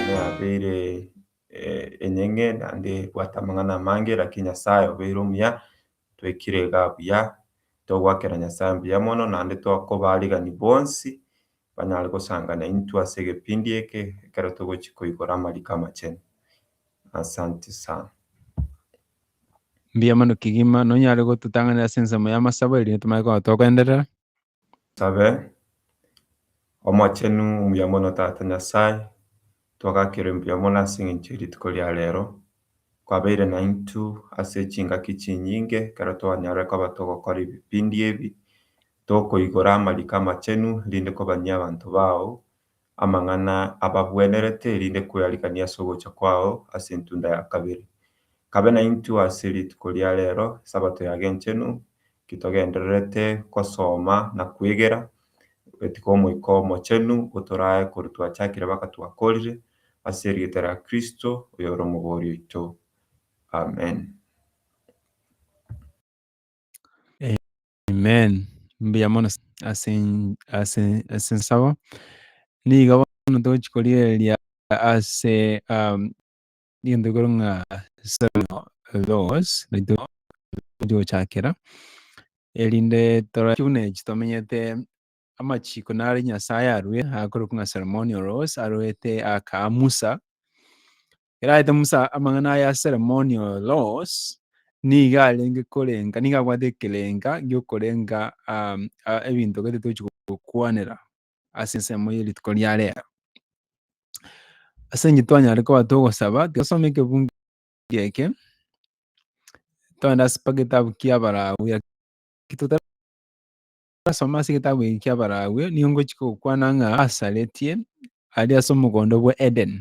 Nabeire enyeng'e naende bwate amang'ana amange lakini Nyasaye obeire omuya, twekire iga buya, togoakera Nyasaye mbuya mono naende tokoba arigani bonsi banyare gosanga naintwe ase egepindi eke ekero togochia koigora amariko amachenu. Asanti sana. Mbuya mono kegima nonyare gototang'anera ase ensemo y'amasabo erinde tomanye koba togenderera. Tosabe. Omochenu, omuya mono Tata Nyasae, twagakerwe mbuya mono ase engencho ye rituko ria rero, kwabeire naintwe ase chingaki chinyinge ekero twanyarire koba togokora ebipindi ebi, tokoigora amariko amachenu, rinde kobanyia abanto bao, amang'ana abagwenerete erinde kweariganie ase ogocha kwao ase entunda ya kabere. Kabe naintwe ase rituko ria rero, Esabato yagenchenu, ki togendererete gosoma na kwegera, goetika Omoika Omochenu otorae korwa twachakire baka twakorire, ase erieta ria Kristo, oyore Omobori oito. Amen. Amen. Mbuya mono ase ase ase nsabo. Niga bono tochi korigereria ase um, egento ekero ng'a Salmo Logos naito tochi gochakera erinde toraki buna echi tomenyete amachiko nare Nyasaye arue akorokwa ng'a Salmonio Logos aroete aka Musa Ekero aete Musa amang'ana aya ase Alamoni o Los, nigo arenge korenga, nigo abwate ekerenga gi'okorenga ebinto gete tochi gokwanera ase ensemo ye rituko ria rero. Ase eng'encho twanyare koba togosaba, tosome ekebungo eke, togende ase mpaka egetabu ki'Abalawi Asoma ase egetabu eke ki'Abalawii, nigo ngochika gokwana ng'a asaretie are ase omogondo bwa Eden.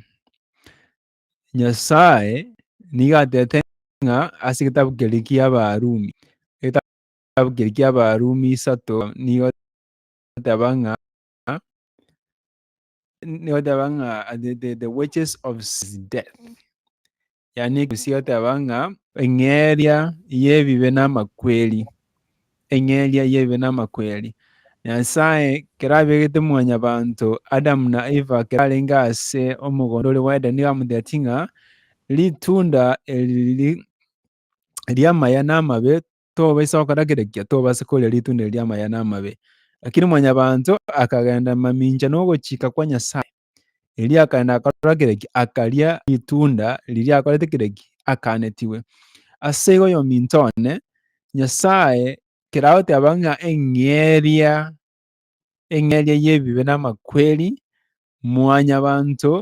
Nyasae nigo atete ng'a ase egetabu kere ki'Abarumi, egetabu kere ki'Abarumi isato nigo egoteba ng'a nigo egoteba ng'a the wages of sin is death. yaani gosiateba ng'a eng'eria y'ebibe namakweri, eng'eria y'ebibe namakweri. Nyasae kero abegete mwanyabanto Adamu na Eva kero arenge ase omogondo oria bw'Edeni nigo amotiatie ng'a ritunda eri ri'amaya namabe tobaisa gokora kera ekiya, tobasa koria ritunda eri ri'amaya namabe. Lakini mwanyabanto akagenda mamincha nogochika kwa Nyasae, Erio akaenda akarora kireki, akaria ritunda riria akorete kireki, akanetigwe. Ase igo yominto one, Nyasae keragoteba ng'a eng'eria eng'eria y'ebibe n'amakweri mwanyabanto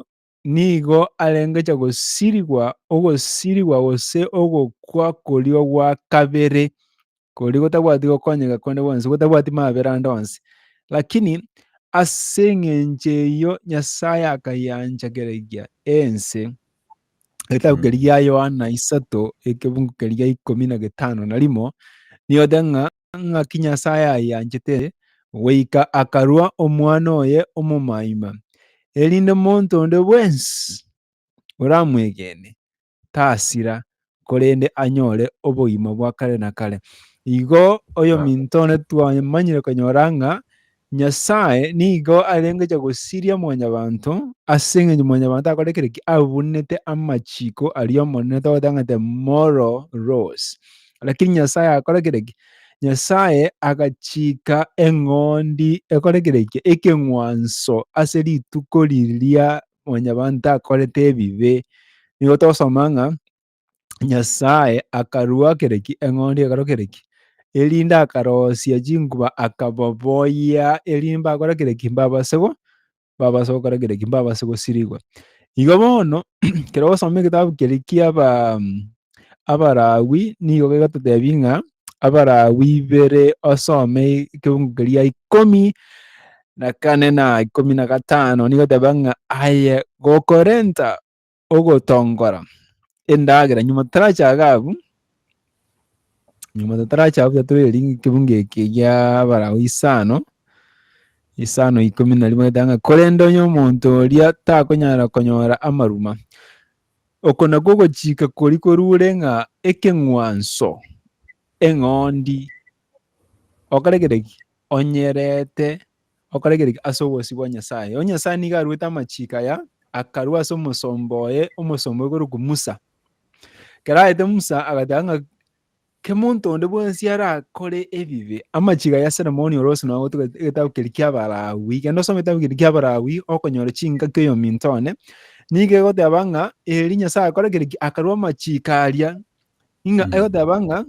nigo arengecha gosirigwa ogosirigwa gose ogokwa koria gwa kabere Koria gotabwati gokonyega konde gwonsi, gotabwati mabera ande onsi. Lakini ase eng'encho eyio Nyasae akayancha keregia ense. Egetabu keria gia Yohana isato, ekebungo keria gia ikomi na getano na rimo, nigote ng'a ng'aki Nyasae ayanchete goika akarua omwana oye omomaima, erinde monto onde bwensi oramwegene tasira, korende anyore obogima bwa kare na kare. Igo oyominto one twamanyire konyora ng'a Nyasae nigo arengecha gosiria mwanyabanto, ase engencho mwanyabanto akore kere ki abunete amachiko aria Omonene togotang'ata moral laws. Lakini Nyasae akore kere ki? Nyasae agachika eng'ondi ekore kere ki? Ekeng'wanso ase rituko riria mwanyabanto akorete ebibe. Nigo togosoma ng'a Nyasae akarua kere ki? Eng'ondi ekero kere ki? Erinde akarosia chinkuba akababoyia erinde mbakore kere ki? Mbabase go mbabase gokora kere ki? Mbabase gosirigwa. Igo bono ekero ogosoma egetabu keria kiaba Abalawi nigo begototebi ng'a Abalawi bere osome ekeungu keria ikomi na kane na ikomi na gatano nigo teba ng'a aye gokorenta ogotongora endagera nyuma totarachaga abwo nyuma totaracha abwo tiga torerie ring'o ekeungu eke gia Abalawi isano isano ikomi na rimo nigo eteba ng'a korende onye omonto oria takonyara konyora amaruma. Oko nakwo ogochika koria korure ng'a ekeng'wanso, eng'ondi, okaregeria ki? Onyerete, okaregeria ki? Ase obosio bwa Nyasae. Erio Nyasae nigo aruete amachiko aya, akarua ase omosomba oye, omosomba oyo korokwa Musa. Ekero aete Musa agateba ng'a Kemonto onde bwensi arakore ebibe. Amachiga ya Solomoni ore ase nonya gotuga egetabu keria ki'Abalawi, genda osome egetabu keria ki'Abalawi okonyora chingaki oyominto one, nigo egoteba ng'a eri Nyasae akorekire ki? Akarua amachiiko aria, ng'a egoteba ng'a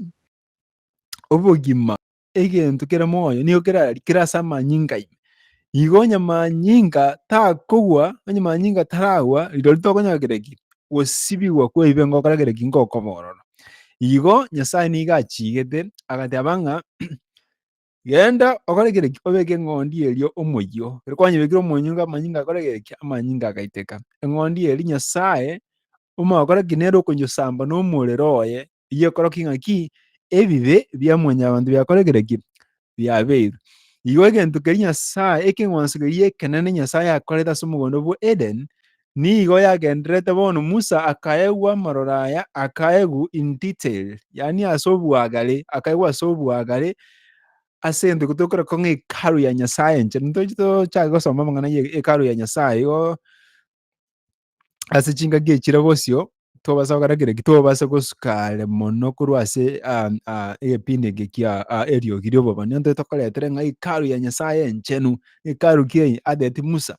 obogima. egento kere moyo nigo kerari kere ase amanyinga ime. Igo onye manyinga takogwa, onye manyinga taragwa, rirorio tokonyora kere ki? Gosibigwa kw'ebibe ngokora kere ki? Ngokoba ororo. Igo Nyasae nigo achiigete agateba ng'a genda okore kere ki? Obeke eng'ondi erio omoyio. Ekero kwanyebekire omoyio nigo amanyinga akore kere ki? Amanyinga agaiteka. Eng'ondi eria Nyasae omogokora ki? Nere okonyesamba nomorero oye bigokorokigwa ng'a ki? Ebibe bia mwanyabanto biakorekire ki? Biabeirwe. Igo egento keria Nyasae, ekeng'wanso keria ekenene Nyasae akorete ase omogondo bwa Eden, nigo yagendererete bono Musa akaegwa amaroro aya, akaegwa in detail, yaani ase obwagare, akaegwa ase obwagare, ase egento ekero tokorokwa ng'a Hekalu ya Nyasae enchera, ntoche tochake gosoma amang'ana ya Hekalu ya Nyasae, igo ase chingaki echi chire bosio twabasa gokora kere ki twabasa gosuka are mono korwa ase ah, ah, egepindi eke kia ah, eriogi ri'obobani onto tokoretera ng'a hekalu ya nyasaye enchenu hekalu kiai adeti musa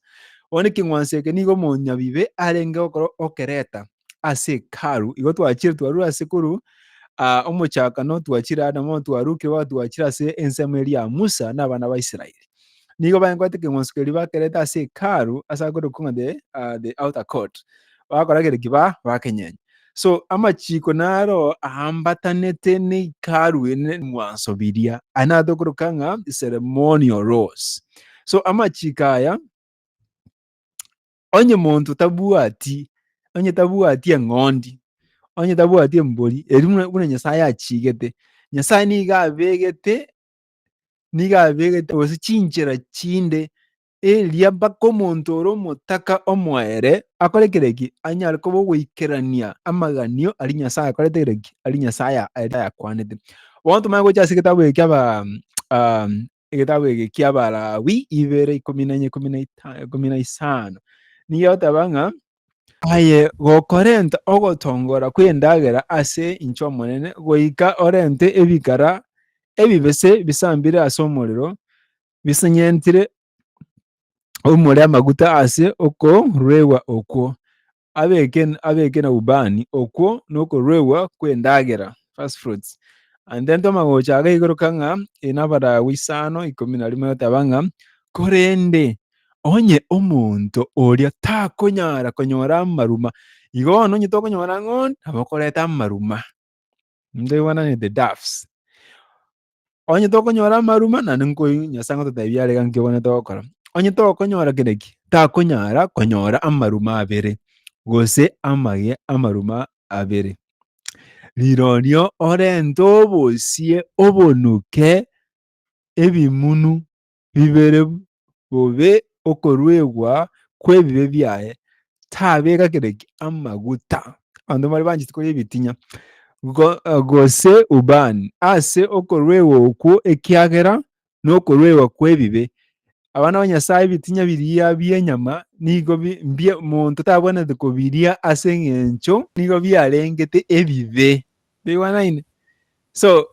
one king'wanso eke nigo omonyabibe arenge gokora okereta ase hekalu igo twachire twarure ase korwa ah, omochakano twachire adamu twarukire twachire ase ensemo eria ya musa na abana ba israeli nigo bankwanete ekeng'wanso keria bakerete ase Hekalu ase agokora okong'a the ah, the outer court, bagakora kere ki ba bakenyenya. So amachiko naro aambatanete ne Hekalu eye ne ebing'wanso biria, aya naro tokoroka ng'a ceremonial laws. So amachiko aya onye monto tabwati onye tabwati eng'ondi, onye tabwati embori, eria buna buna Nyasae achigete, Nyasae nigo abegete nigo abegete gose chinchera chinde eria mpaka omonto ore omotaka omoere akore kereki anyare koba ogoikerania amaganio ari Nyasaye akorete kereki ari Nyasaye ayakwanete. Bono tomanye gocha ase egetabu eke aba um, egetabu eke kia Abalawi ibere ikomi na ikomi na isano nigo oteba ng'a Aye gokorenta ogotongora kw'endagera ase inche Omonene, goika orente ebikara ebibese bisambire ase omorero, bisenyentire omore amaguta ase okoruegwa okwo, abeke, abeke na ubani okwo nokoruegwa kw'endagera, first fruits. And then tomagocha agaigoroka ng'a, Eyi nabaragwa isano ikomi na rimo yotaba ng'a, korende Onye omonto oria takonyara konyora amaruma, igo bono onye tokonyora ng'o nabo okoreta amaruma. Ntoigwananete doves. Onye tokonyora amaruma naende nkoigwe Nyasae ngototebia are iga nki obonete gokora. Onye tokonyora kere ki, takonyara konyora amaruma abere, gose amage amaruma abere. Rirorio orente obosie obonuke ebimunu bibere bobe okoruegwa kw'ebibe biaye, tabeka kireki amaguta abanto mbare banchete koria ebitinyo, gose ubani ase okoruegwa okwo, ekiagera nokoruegwa kw'ebibe. Abana ba Nyasaye ebitinya biria bi'enyama nigo monto tabwenerete kobiria ase engencho nigo biarengete ebibe. Toigwanaine? So,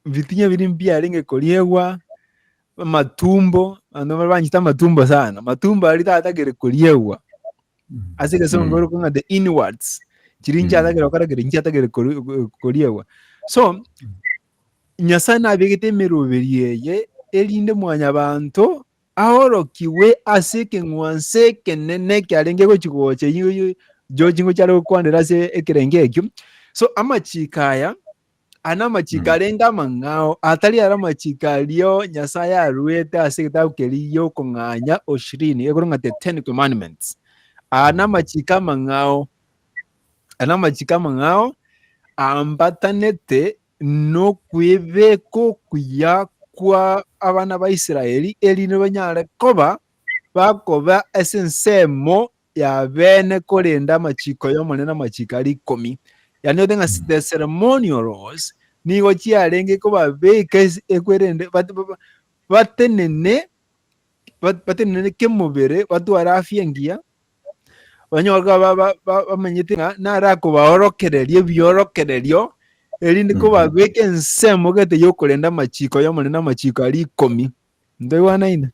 bitinyo biria mbiarenge koriegwa, amatumbo, abanto baria banchete amatumbo sana, amatumbo aria tatagere koriegwa, ase egesongo Mm. bakong'a the inwards, chiria inche Mm. atagere gokora kere, inche atagere kori- ko- koriegwa. So, Nyasae nabegete emeroberi eye, erinde mwanyabanto aorokigwe ase ekeng'wanso ekenene ekiarenge gochia gocha eyio yo chingochi are gokwanera ase ekerengo ekio. So amachiko aya aya namachiko arenge amang'ao atari ara amachiko aria Nyasae aruete ase egetabu keria gi'okong'anya oshirini egoro ng'a the ten commandments. Aya namachiko amang'ao aya namachiko amang'ao ambatanete nokwebeka okuya kwa abana ba Israeli, erinde banyare koba bakoba ase ensemo ya bene korenda amachiko y'Omonene amachiko aria ikomi. Yani ote ng'a the ceremonial laws nigo chiarenge kobabeka ekwerende batenene batenene kemobere batware afya engiya Onye bamenyete ng'a narakobaorokereria ebiorokererio, erinde kobabeke ensemo gete y'okorenda amachiko y'omorende amachiko aria ikomi. Ntoigwanaine?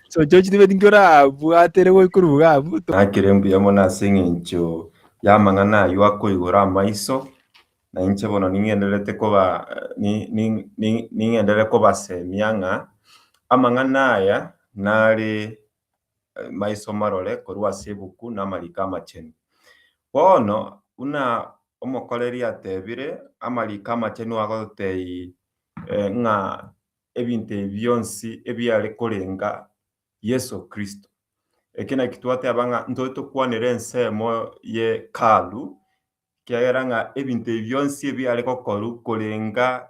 so chochi tibeti nkorabwatere goikuruga abwo nakere mbuya mono ase eng'encho y'amang'ana ayio akoigora amaiso, na inche bono ning'endererete koba ning'enderere kobasemia ng'a amang'ana aya nare maiso marore korwa ase ebuku n'amariko amachenu. Bono, buna omokoreri atebire, amariko amachenu agototebia ng'a ebinto ebi bionsi ebiare korenga Yeso Kristo. Eki naki twateba ng'a ntore tokwanere ensemo y'Hekalu, ekiagera ng'a ebinto ebi bionsi ebiare gokorwa korenga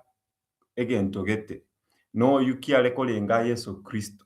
egento gete, na oyio kiare korenga Yeso Kristo.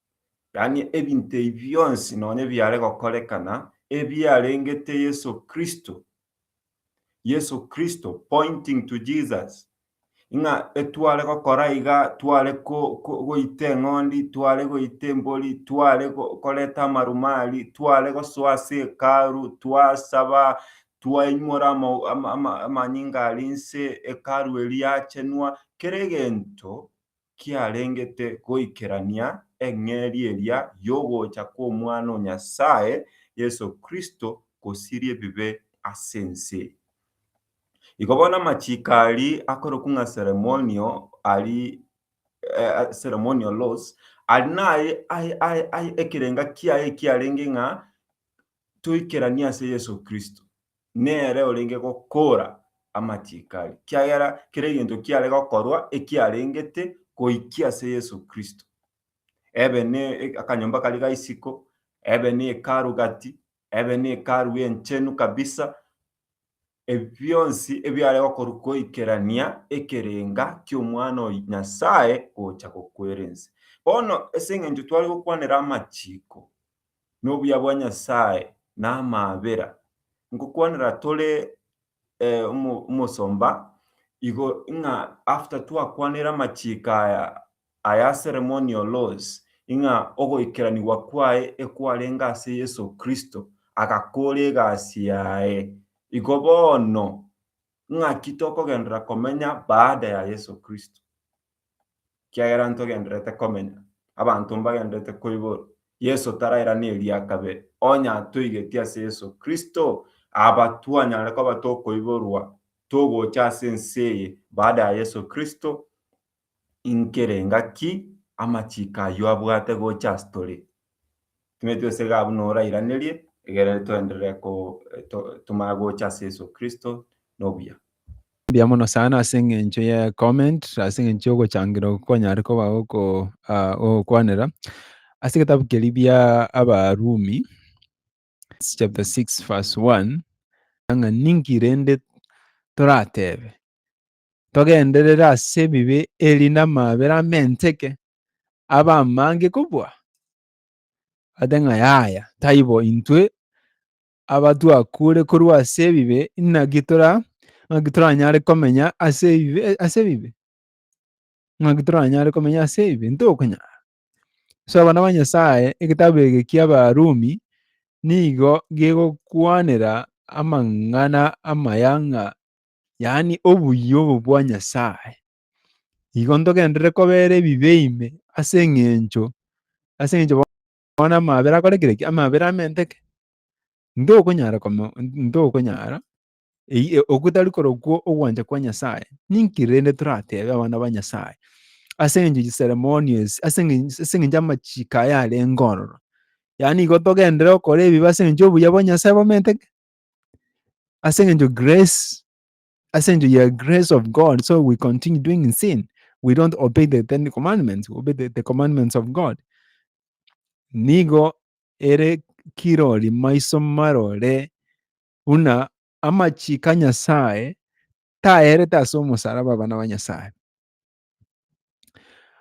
yaani ebinto ebi bionsi nonya biare gokorekana ebiarengete Yeso Kristo, Yeso Kristo, pointing to Jesus, ng'a etware gokora iga, tware goita eng'ondi, tware goita embori, tware koreta amarumari, tware gosoa ase Hekalu, twasaba, twaimora amanyinga aria inse, Hekalu eria yachenwa, kera egento kiarengete goikerania eng'eria eria y'ogocha kw'Omwana o Nyasae, Yeso Kristo, gosiria ebibe ase ense. Igo bono amachiiko aria akorokwa ng'a ceremonial ari, ceremonial laws, ari naye ekerenga kiaye ekiarenge ng'a toikeranie ase Yeso Kristo, nere orenge gokoora amachiko aria, kiagera kera egento kiare gokorwa ekiarengete goikia ase Yeso Kristo, ebe ne akanyomba karia ga isiko, ebe ne Hekalu gati, ebe ne Hekalu enchenu kabisa, Ebi bionsi ebiare gokorwa goikerania ekerenga ki'Omwana o Nyasae gocha gokwera ense. Bono ase engencho tware gokwanera amachiko, na obuya bwa Nyasae, na amaabera, nkokwanera tore omosomba igo ng'a after twakwanire amachiko aya Aya ceremonial laws, ing'a ogoikeranigwa kwaye ekwarenge ase Yeso Kristo, agakora egasi yaye. Igo bono, ng'aki tokogenderera komenya baada ya Yeso Kristo? Ekiagera ntogendererete komenya, abanto mbagendererete koiborwa, Yeso tarairana eria kabere. Onye atoigetie ase Yeso Kristo, aba twanyare koba tokoiborwa togocha ase ense eye baada ya Yeso Kristo, Inki re, ngaki amachiko ayio abwate gocha ase tore? Timanyeti gose iga abwo noro airanerie, egere toenderere tomanye gocha ase Yeso Kristo na obuya. Mbuya mono sana ase eng'encho ye comment ase eng'encho y'ogochangira okwo kwanyare koba ogokwanera ase egetabu keria bia Abarumi chapter 6 verse 1 ng'a ninki rende toratebe togenderere ase ebibe erinde amaabera amenteke abe amange kobua? Ate ng'a yaya, taibo intwe abatwakure korwa ase ebibe naki tora naki toranyare komenya ase ebibe ase ebibe? Naki toranyare komenya ase ebibe? Ntokonyara. Ase abana ba Nyasaye egetabu eke ki'Abarumi nigo gegokwanera amang'ana amaya ng'a yaani obuya obo bwa Nyasae, igo ntogenderere kobera ebibe ime ase engencho ase engencho bono amabera akorekire ki? Amabera amenteke. Ntokonyara koma ntokonyara eyie ogotari korokwo ogwancha kwa Nyasae. Ninki rende toratebe abana ba Nyasae ase engencho ye ceremonies ase engencho ase engencho amachiko aya arenge ororo? Yaani igo togenderere gokora ebibe ase engencho obuya bwa Nyasae bomenteke? Ase eng'encho grace, ase eng'encho ya grace of God, so we continue doing in sin. We don't obey the Ten Commandments, we obey the, the commandments of God. Nigo ere kirori maiso marore buna amachiko a Nyasae taerete ase omosaraba abana ba Nyasae.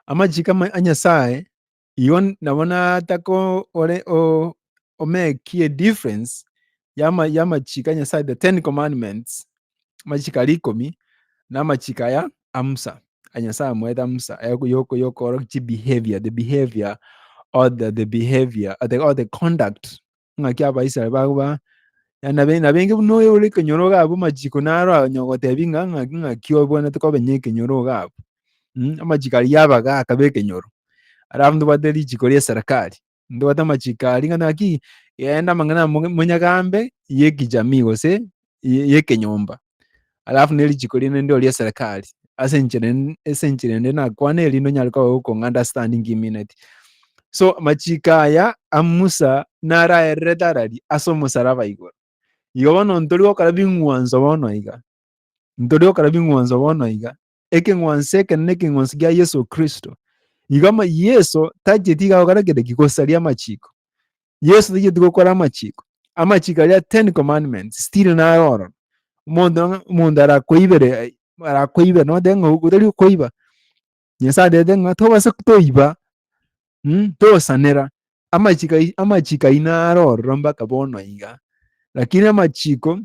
Amachiko ama- a Nyasae Igo nabo natakore omekie edifference y'amachiko a Nyasae, the ten commandments, amachiko aria ikomi, na amachiko aya a Musa, a Nyasae amoete a Musa y'okorokia chibehaviour, the behaviour or the behaviour or the conduct ng'aki Abaisraeli bagoba nabainge buna oyo ore ekenyoro gabo amachiko naro agotebi ng'a ng'aki obwenerete kobenya ekenyoro gabo. Amachiko aria yabaga akaba ekenyoro, alafu ntobwate richiko ria eserekari, ntobwate amachiko aria ng'a naki yaenda amang'ana monyagambe y'ekijamii gose y'ekenyomba. alafu ne richiko riende ndio ria serikali ase enchera ase enchera ende nakwana erinde onyare koba gokounderstanding imineti so machika aya a musa naraerere tarari ase omosaraba igoro igo bono ntori gokora bing'wanso bono iga ntori gokora bing'wanso bono iga ekeng'wanso ekene nekeng'wanso gia Yeso Kristo. Igo Yeso tacheti iga gokora kende ki gosaria amachiko. Yeso tacheti gokora amachiko. Amachiko aria ten commandments still naro oro. Omonto omonto arakoibere arakoibere note ng'a otari koiba. Nyasaye atebete ng'a tobasa toiba mm, tosanera. Amachiko amachiko aino naro ororo mpaka bono iga. Lakini amachiko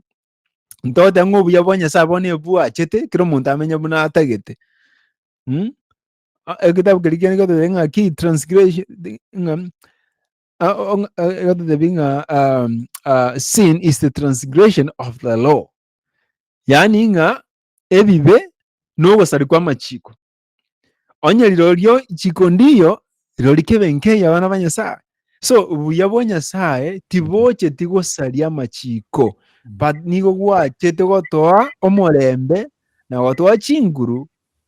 Ntogote ng'a obuya bwa Nyasae bono ebwachete, kera omonto amenye buna atagete. Mm? A- Egitabu keri kende gototebia ng'a ki transgression ng'a a- o- ng'a- a- gototebia ng'a um, uh, sin is the transgression of the law. Yaani ng'a ebibe nogosari kw'amachiko. Onye rirorio chiko ndiyo, rirori kebe nkei abana ba Nyasaye. So, obuya bwa Nyasaye tibocheti gosaria amachiko, but nigo gwachete gotoa omorembe na gotoa chinguru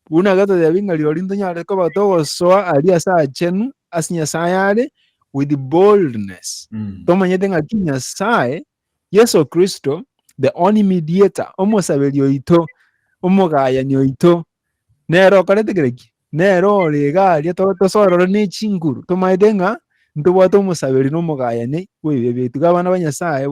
buna gatotebi ng'a rirori ntonyare koba togosoa aria ase achenu ase Nyasaye are with boldness. Mm. tomanyete ng'a ki Nyasaye Yeso Kristo, the only mediator, omosaberi oito, omogayani oito, nere okorete kere ki? Nere ore iga aria tosorore ne chinguru, tomaete ng'a ntobwate omosaberi na omogayani bw'ebibe biaito. Iga abana ba Nyasae,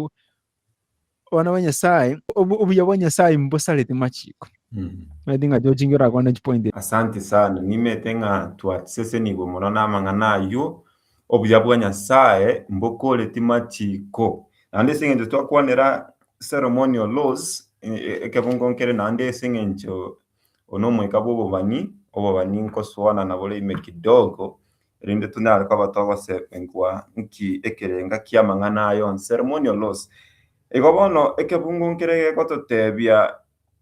abana ba Nyasae, obuya bwa Nyasae mbosarete machiko. Mm. Maete ng'a tochingira kona chipoint. Asanti sana, nimete ng'a twasesenigwe mono namang'ana ayio, Obuya bwa Nyasae mbokore timachiiko. Naende ase eng'encho twakwanera ceremonial laws, ekebungo nkere naende ase eng'encho oyo nomoika bw'obobani, obobani nkosuana nabo rime kidogo, erinde tonyare koba togosegwa nki ekerenga ki'amang'ana aya onsi, ceremonial laws. Igo bono ekebungo nkere gegototebia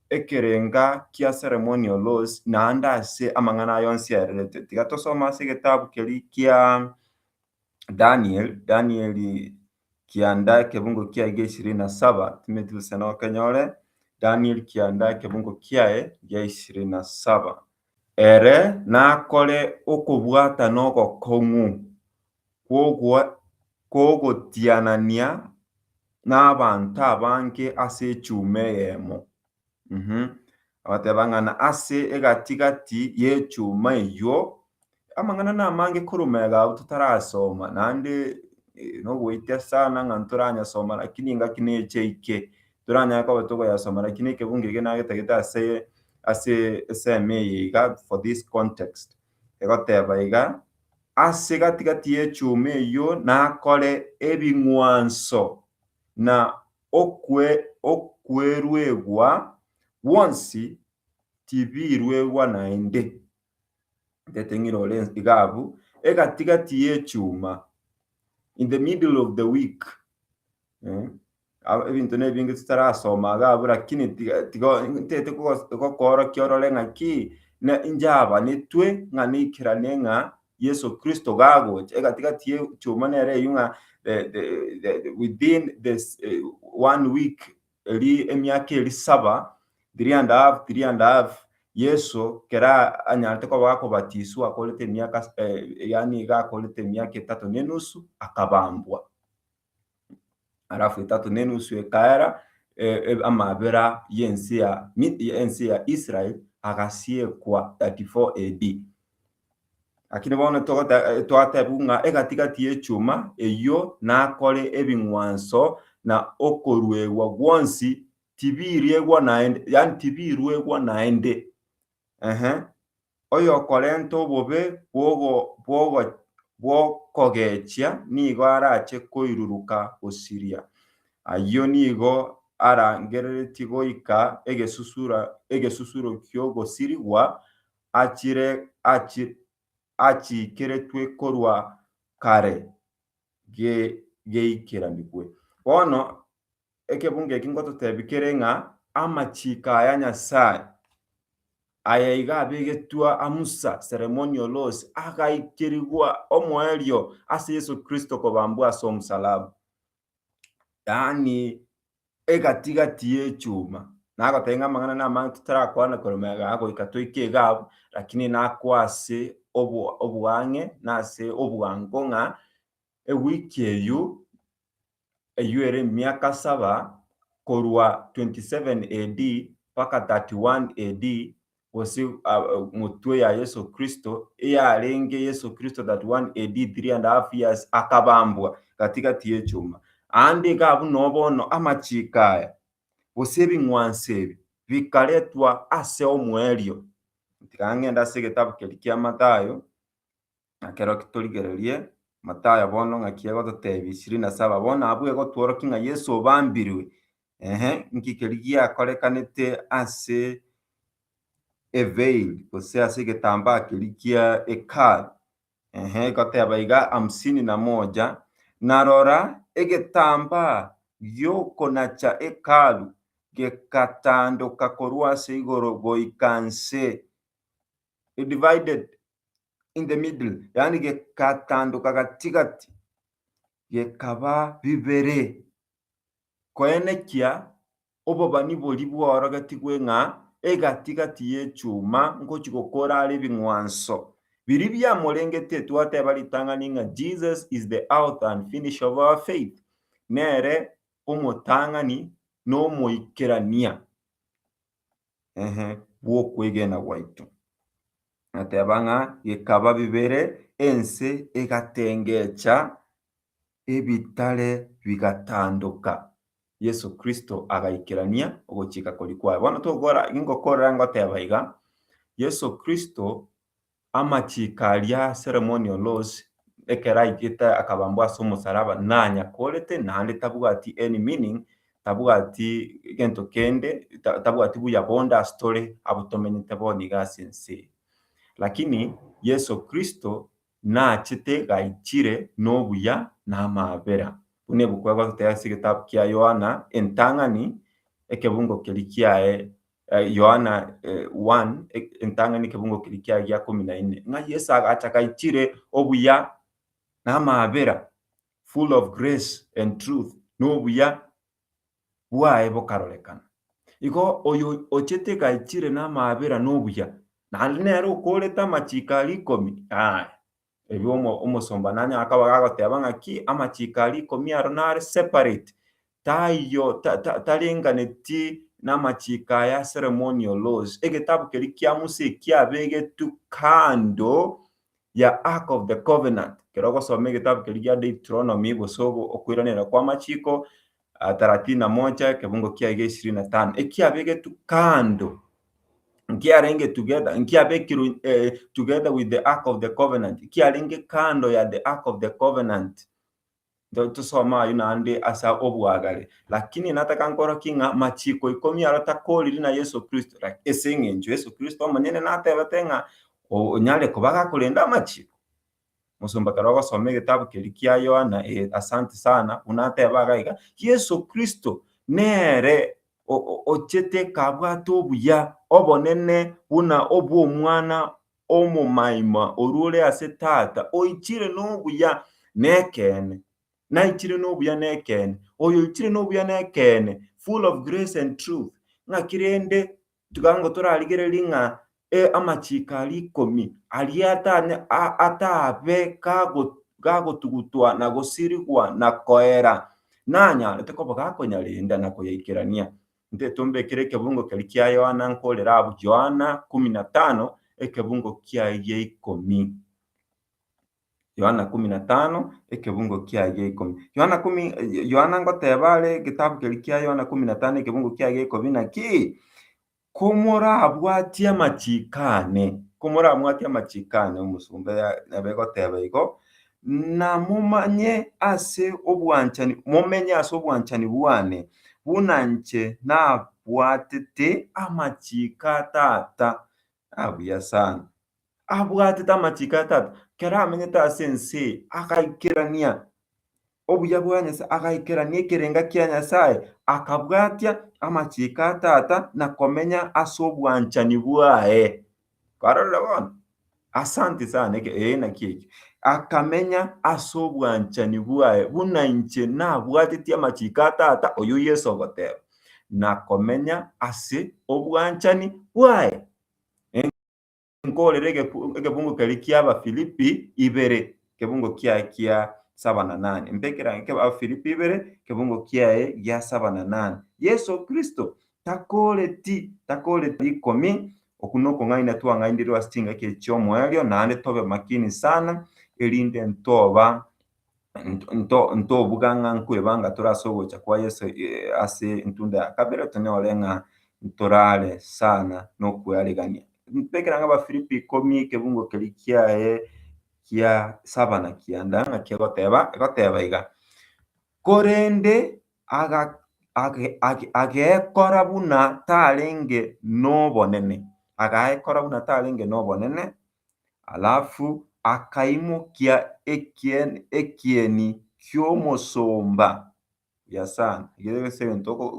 ekerenga kia ceremonial laws naende ase amang'ana aya onsi aererete. Tiga tosome ase egetabu keria kia Daniel, Danieli kianda ekebungo kiaye gia ishirini na saba, timanyeti gose nokenyore, Daniel kianda ekebungo kiaye gia ishirini na saba. Ere nakore okobwata na ogokong'u, kw'ogotianania n'abanto abange ase echuma eyemo. Agateba ng'a na ase egati-gati y'echuma eyio, amang'ana namange korwa iga abwo totarasoma, naende nogoita sana ng'a ntoranyasoma lakini engaki neche eke, toranyare koba tokoyasoma lakini ekebungo eke nagetagete ase ase esemo eye iga for this context. egoteba iga, Ase gati-gati y'echuma eyio nakore ebing'wanso, na okweruegwa gwonsi tibiruegwa naende. Ntete ng'ire ore iga abwo, egati-gati y'echuma, in the middle of the week. Aba- ebinto nebinge tutarasoma iga abwo lakini tiga tiga ntete kogos- gokoorokia orore ng'aki ne inche abanetwe ng'a naikerane ng'a Yeso Kristo gagocha egati gati ye echioma nere eyio ng'a the the the the within the one week eri emiaka eri saba, three and a half three and a half, Yeso kera anyarete koba akobatiswa akorete emiaka s- yaani iga akorete emiaka etato na enusu akabambwa. alafu etato na enusu ekaera amabera y'ense ya ense ya Israel agasiekwa 34 AD. Lakini bono togoteba twatebiwa ng'a egati-gati y'echuma eyio nakore ebing'wanso na okoruegwa gwonsi tibiriegwa naende yaani tibiruegwa naende ee, oyokorenta obobe bw'okogechia nigo arache koiruruka gosiria. Ayio nigo arangereretie goika egesusuro ki'ogosirigwa achiikeretwe korwa kare geikeranigwe. Bono Ekebungo eki ngototebi kere ng'a amachiiko aya Nyasae, aye iga abegetwe a Musa, ceremonial laws, agaikirigwa omoerio ase Yeso Kristo kobambwa ase omosalaba, yaani egati-gati y'echuma. Nagotebi ng'a amang'ana na amange totarakwane korema igaa goika toike iga abwo, rakini nakwa ase oboang'e na ase obwango ng'a ewiki eyio eyio ere emiaka saba, korwa 27 AD mpaka 31 AD, gose motwe ya Yeso Kristo, eyarenge Yeso Kristo 31 AD, three and a half years, akabambwa gati-gati y'echuma. Aande igaa buna bono amachiiko aya, gose ebing'wanso ebi, bikaretwa ase omoerio. Tiga ng'ende ase egetabu keria kia Mathayo, Nakero kitorigererie Mathayo bono ng'aki egototebia ishirini na saba, bono abwo egotworokia ng'a Yesu obambirwe. Ehe, inki keria giakorekanete ase eveil gose ase egetambaa keria kia Hekalu? Ehe, egoteba iga hamsini na moja, Na rora, egetambaa gi'okonacha Hekalu gegatandoka korwa ase igoro goika nse, divided in the middle, yaani gegatandoka gati-gati, gekaba bibere, koenekia obobani boria bworogetigwe ng'a egati-gati y'echuma ngochia gokora are ebing'wanso biria biamorengetie. Twateba ritang'ani ng'a Jesus is the author and finisher of our faith, nere omotang'ani na omoikerania. ee, bw'okwegena gwaito. Nateba ng'a gekaba bibere ense egatengecha ebitare bigatandoka, Yeso Kristo agaikerania ogochika koria kwaye. Bono togokora, ingokorera ngoteba iga, Yeso Kristo Amachiiko aria Seremoni o Los, ekero aigete akabambwa ase omosaraba, nanya korete, naende tabwati any meaning, tabwati egento kende, tabwati buya bonde ase tore abwo tomenyete bono iga ase ense eye. Lakini Yeso Kristo nachete gaichire nobuya na amaabera. Buna ebuku egototebia ase egetabu kia Yohana, entang'ani, ekebungo keria kiaye Yohana 1, entang'ani ekebungo keria kiaye gia komi na ine, ng'a Yeso agacha gaichire obuya na amaabera, full of grace and truth, na obuya bwaye bokarorekana. Igo oyo ochete gaichire na amaabera na obuya, naende nere okoorete amachiiko aria ikomi, aye Erio omosomba nanye akaba gagoteba ng'a ki? Amachiiko aria ikomi aro nare separate, taiyo tarenganeti namachiiko aya ceremonial laws. Egetabu keria kia Musa ekiabegetwe kando ya ark of the covenant. Ekero ogosoma egetabu keria gia Deuteronomy gose okoiraneria kwamachiiko, thelathini na moja, ekebungo kiaye gia ishirini na tano, ekiabegetwe kando, nkiarenge together, nkiabekirwe eh, together with the ark of the covenant, ekiarenge kando ya the ark of the covenant. Ndo tusoma ayio naende ase obwagare. Lakini nataka nkoroki ng'a machiko ikomi aro takoriri na Yeso Kristo, lak- ase eng'encho Yeso Kristo omonyene natebete ng'a o- onyare koba gakorenda amachiko. Mosomba kare ogosoma egetabu keria kia Yohana, eh, asanti sana, buna ateba iga iga, Yeso Kristo nere ochete kabwate obuya, obonene buna obw'omwana omomaima orwa ore ase tata, oichire nobuya nekeene. Naichire nobuya nekeene. Oyoichire nobuya nekeene, full of grace and truth, ng'aki rende Tiga ngo torarigererie ng'a amachiiko aria ikomi aria ataabe gagotugutwa na gosirigwa na koera, nanyaarete koba gakonyarenda na koyaikerania. Inche tombekere ekebungo keria kia Yohana nkorere abwo, Yohana kumi na tano, ekebungo kiaye gia ikomi. Yohana ikomi na tano, ekebungo kiaye ikomi. Yohana ikomi, Yohana ngoteba are egetabu keria kia Yohana ikomi na tano, ekebungo kiaye ikomi na ki? Komorabwatie amachiko ane, komorabwatie amachiko ane, omosomba ya- nabo egoteba igo, na momanye ase obwanchani, momenye ase obwanchani bwane, buna nche nabwatete amachiko a Tata. Ah, buya sana. abwatete amachiko a Tata, ekero amenyete ase ense eye, agaikerania obuya bwa Nyasae, agaikerania ekerenga kia Nyasae, akabwatia amachiko a Tata na komenya ase obwanchani bwaye. Kwarorire bono? Asanti sana, eke, ee naki ekio. Akamenya ase obwanchani bwaye, buna inche nabwateti amachiko a Tata, oyio Yeso ogoteba, na komenya ase obwanchani bwaye. Nkoorere egebungo keria ki'Abafilipi ibere, egebungo kiaye gia saba na nane. Mbe ekerango ki'Abafilipi ibere, egebungo kiaye gia saba na nane. Yeso Kristo takooreti, takooreti rikomi, okwo nokong'aina twang'ainirwe ase chingaki echi chi'omoerio, naende tobe makini sana, erinde ntoba ntobuga ng'a nkwebanga tore ase ogocha kwa Yeso ase entunda ya kabere, tonyore ng'a ntorare sana na okwearigania. Ntekire ng'a Abafilipi ikomi ekebugo keria kiaye kia saba na kianda naki egoteba, egoteba iga, Korende agekora buna tarenge nobonene, agekora buna tarenge nobonene, Alafu akaimokia ekieni ki'omosomba. Buya sana. Ekiagera ase egento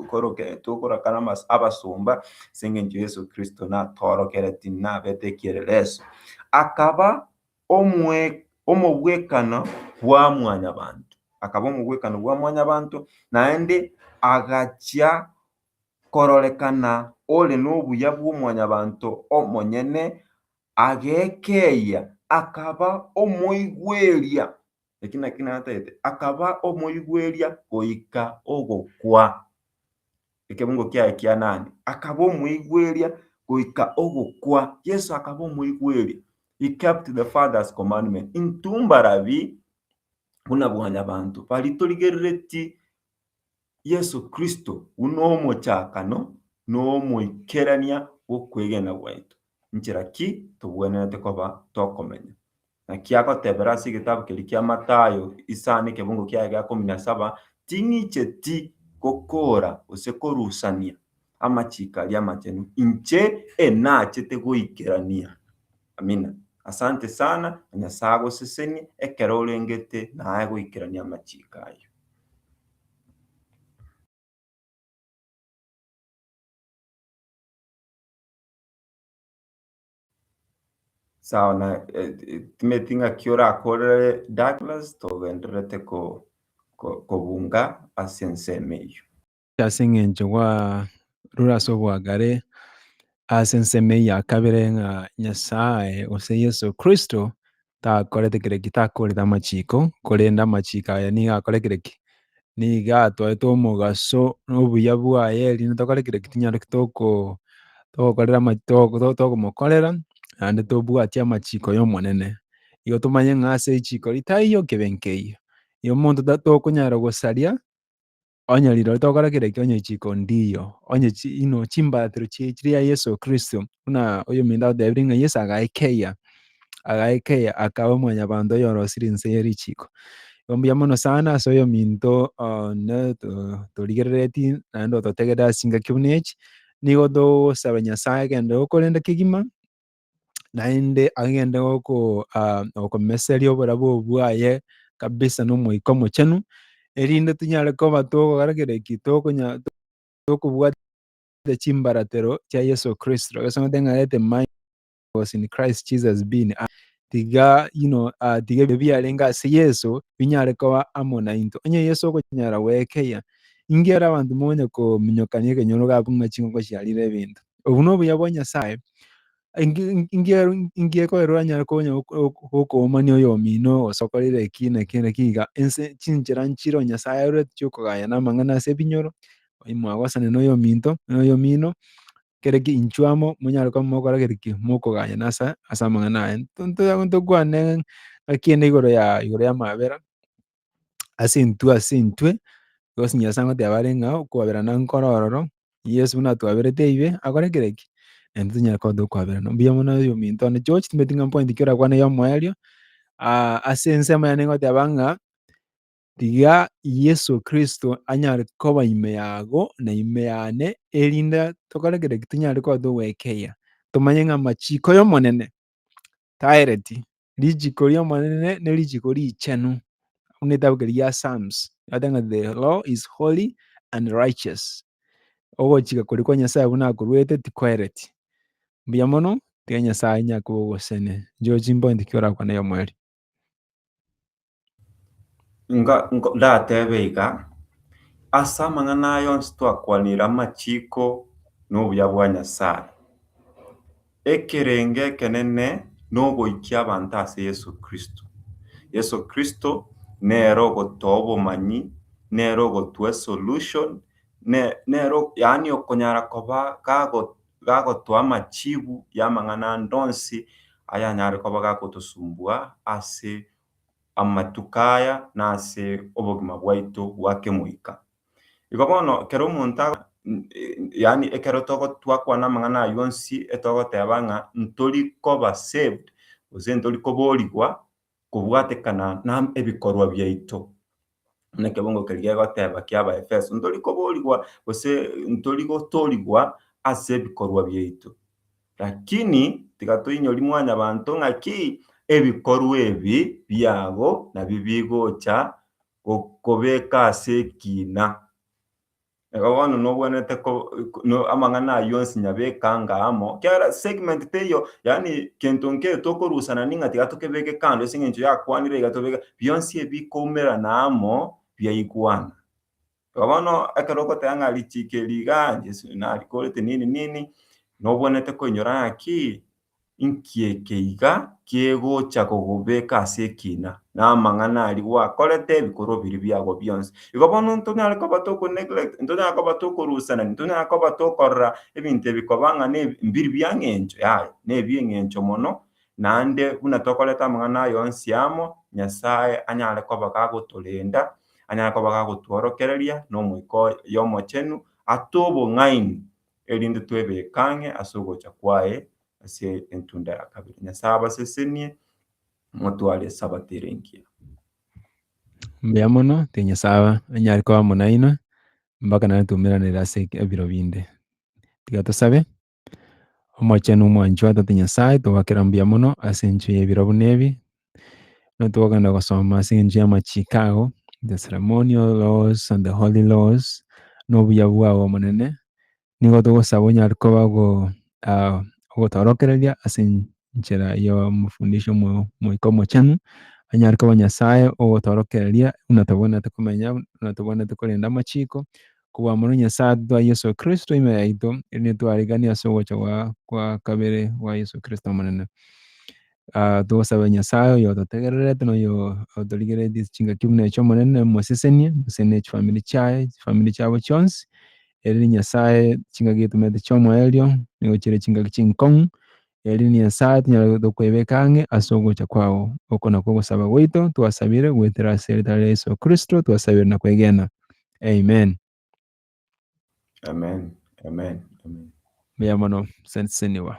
tokorakara na abasomba ase engencho Yeso Kristo natorokeretie nabete ekieleleso. Akaba omogwekano bwa mwanyabanto. Akaba omogwekano bwa mwanyabanto naende agachia kororekana ore nobuya bw'omwanyabanto omonyene, agekeyia, akaba omoigweria, eki naki natagete, akaba omoigweria goika ogokwa. Ekebungo kiaye kia nane, akaba omoigweria goika ogokwa. Yeso akaba omoigweria, he kept the Father's commandment. Intwe mbarabi buna bwanyabanto, bari torigereretie Yeso Kristo buna omochakano na omoikerania bw'okwegena gwaito, nchera ki togwenerete koba tokomenya. Naki agotebera ase egetabu keria kia Mathayo isano ekebungo kiaye gia ikomi na saba, Ting'icheti gokoora gose korusania amachiiko aria amachenu, inche enachete goikerania. Amina. Asante sana, na Nyasae agosesenie ekero orengete naye goikerania amachiiko ayio. Sawa na timeti ng'aki orakorere Douglas togendererete kobunga ase ensemo eyio. ase eng'encho gwarure ase oboakare ase ensemo eye ya kabere ng'a Nyasae gose Yeso Kristo takorete kere ki, takoorire amachiko, korende amachiko aye nigo akore kere ki? Nigo atwaete omogaso na obuya bwaye erinde tokore kere ki? Tinyareki toko togokorera ama toko togomokorera naende tobwati amachiko y'Omonene. Igo tomanye ng'a ase richiko ritaiyo kebe nkeiyo. Igo omonto ta tokonyara gosaria Onye rirorio togokora kera ekio, onye chiko ndiyo, onye chi, you know, chimbaatero chie chiri ya Yeso Kristo, buna oyominto agotebirie ng'a Yeso agaekeia, agaekeia akaba omwanyabanto oyorosirie inse ye richiko. Igo mbuya mono sana ase oyominto o, ne to- torigerereti naende ototegereti as'ingaki buna echi, nigo togosaba Nyasae egento egokorenda kegima, naende agende goko ah, gokomeseria oborabu bwaye kabisa n'Omoika Omochenu, erinde tonyare koba togokora kera eki tokonya tokobwata chimbaratero chia Yeso Kristo. Yeso ng'ate ng'arete my was in Christ Jesus being ah, tiga you know, ah, tiga ebyo biarenge ase Yeso binyare koba amo nainto. Onye Yeso okonyara gwekeya ingera abanto monya kominyokania ekenyoro gakong'a chinko chiarire ebinto. Obwo nobuya bwa Nyasae, ingiekorerwa anyare konya gokoomania oyomino gose okorire eki na eki na eki iga, ense chinchera nchire Nyasae arorete chi'okogaya na amang'ana ase ebinyoro, mwagosane na oyominto na oyomino, kere ki inchuo amo monyare koba mogokora kere ki, mokogayana ase amang'ana aye. Ntokwane ng'aki ende igoro ya igoro y'amabera, ase intwe ase intwe, because Nyasae agoteba arenge ao, okoaberana nkoro ororo, Yeso buna atwaberete ibe, akore kera ki? Naintwe tonyare koba tokoaberana. Mbuya mono oyo ominto one George, timbeti ng'a point ekero orakwana ya omoerio, ase ensemo yane ngoteba ng'a, tiga Yeso kristo anyare koba ime yago, na ime yane, erinde tokore kera ki? Tonyare koba togoekeria, tomanye ng'a amachiko ya Omonene, taereti. Richiko ri'Omonene nerichiko richenu, buna egetabu keria gia Psalms egoteba ng'a the law is holy and righteous, ogochika koria kwa Nyasae buna akoruete tikoereti. Mbuya mono, tiga Nyasae onye akobe ogosene, inche ore chimbono inche ki orakwane aye omwerio. Inga nko ndatebe iga, ase amang'ana aya onsi twakwanire amachiko na obuya bwa Nyasaye. Ekerenge ekenene na ogoikia abanto ase Yeso Kristo. Yeso Kristo nere ogotoa obomanyi, nere ogotwa esolution, ne nere ok yaani okonyara koba gago gagotoa amachibu ya amang'ana ande onsi ayanyare koba gagotosumbua ase amatuko aya na ase obogima bwaito bwa kemoika. Igo bono ekero omonto a, yaani ekero twakwana amang'ana ayio onsi etogoteba ng'a ntori koba saved, gose ntori koboorigwa kobwatekana na ebikorwa biaito. Buna ekebungo keria gegoteba ki'Abaefeso, ntori koboorigwa gose ntori gotoorigwa ase ebikorwa biaito. Lakini tiga toinyori mwanyabanto ng'a ki, ebikorwa ebi biabo nabio bigocha gokobeka ase ekiina. Iga bono nobwenerete ko no amang'ana ayio onsi nyabeka anga amo. Kiagera segment teiyo yaani kento nkere tokorusana ning'a tiga tokebeke kando ase eng'encho yakwanire iga tobeke bionsi ebi bikoumerana amo biaigwana. Igo bono ekero ogoteba ng'a richiko eri igaa Jesu narikorete nini nini nobwenerete koinyora ng'a ki Inki ekeiga kegocha kogobeka ase ekiina, na amang'ana aria gwakorete ebikorwa biria biago bionsi? Igo bono ntonyare koba toko neglect, ntonyare koba tokorusereria, ntonyare koba tokorora ebinto ebi koba ng'a mbiri bia eng'encho, yaya, nebi eng'encho mono, naende buna tokorete amang'ana aya onsi amo, Nyasaye anyare koba gagotorenda, anyare koba gagotworokereria na Omoika oye omochenu ase obong'aini erinde twebeke ang'e ase ogocha kwaye ase entunda ya kabere. Nyasae abasesenie, motware Esabato ere engiya. Mbuya mono, te Nyasae anyare koba amo nainwe mpaka naende twaumeranere ase ebiro binde. Tiga tosabe. Omochenu omwanchwa Tata Nyasae, togokera mbuya mono ase enchera y'ebiro buna ebi, Nabo twakagenda gosoma ase engencho y'amachiko ago, the ceremonial laws and the holy laws, na obuya bwao Omonene, nigo togosaba onyare koba ogotorokereria ase enchera y'omofundisha Omoika Omochenu, onyare koba Nyasae ogotorokereria buna tobwenerete komenya, buna tobwenerete korenda amachiko, kobua amo na Nyasaye atatoa Yeso Kristo ime yaito, erinde twarigania ase ogocha gwa kabere gwa Yeso Kristo Omonene. togosabe Nyasaye oyo ototegererete na oyo otorigeretie chingaki buna echi Omonene omosesenie, gose ne chifamiri chiaye, chifamiri chiabo chionsi, erinde Nyasaye chingaki etomerete chia omoerio, nigo chire chingaki chinkong'u, erinde Nyasaye tonyare koebeka ang'e ase ogocha kwao. Oko nakwo ogosaba gwaito twasabire goetera ase eritara ria Yeso Kristo twasabire na kwegena. Amen. Mbuya mono, Senseniwa.